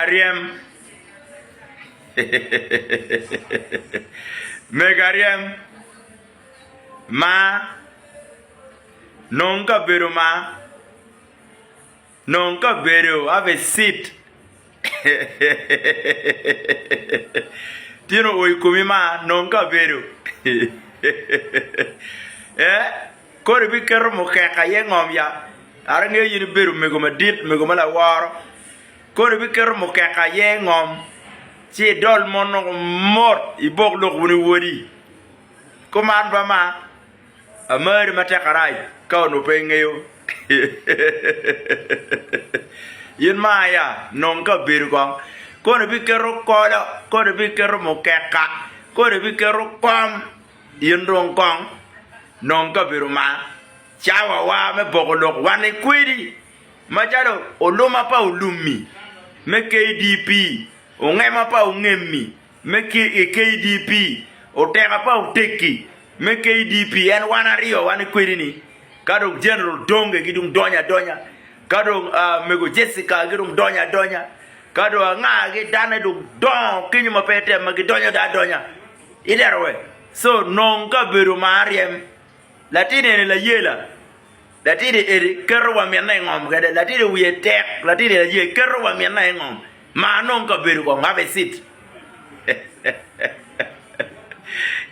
Aryem. Meg aryem ma nong kabedo ma nong kabedo have a seat tyeno o i komi ma nong kabedo eh Kodi biketo mukeka iye ngom ya? Kara ingeyo in ibedo omego madit, omego ma laworo. Kodi biketo mukeka iye ngom, ci idol mon woko mot, ibok lok wunu i odi. Kuman ba ma, amari matek arac ka onongo pe ingeyo. In ma ya, nong kabedo kong. Kodi biketo kolo, kodi biketo mukeka, kodi biketo kom. In dong kong, nong kabedo ma cawawa me poko lok wane kwedi, macalo oluma pa olummi me KDP, ongema pa ongemmi me KDP, oteka pa otekki me KDP, en wan aryo wane kwedi-ni, ka dong Jeneral Donge ki dong donyo adonya, ka dong Mego Jessica ki dong donyo adonya, ka dong anga ki dane dong dongo kenyo ma pe ite ma gidonyo dong adonya. I derowe, co nong kabedo ma aryem. Latin eni layela. Latidi edi keto wa minna i ngom kede. Latidi wiye tek, latidi aye keto wa minna i ngom. Ma nong kabedo kong have a seat.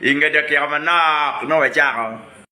I nge dakika manok nongo wacako.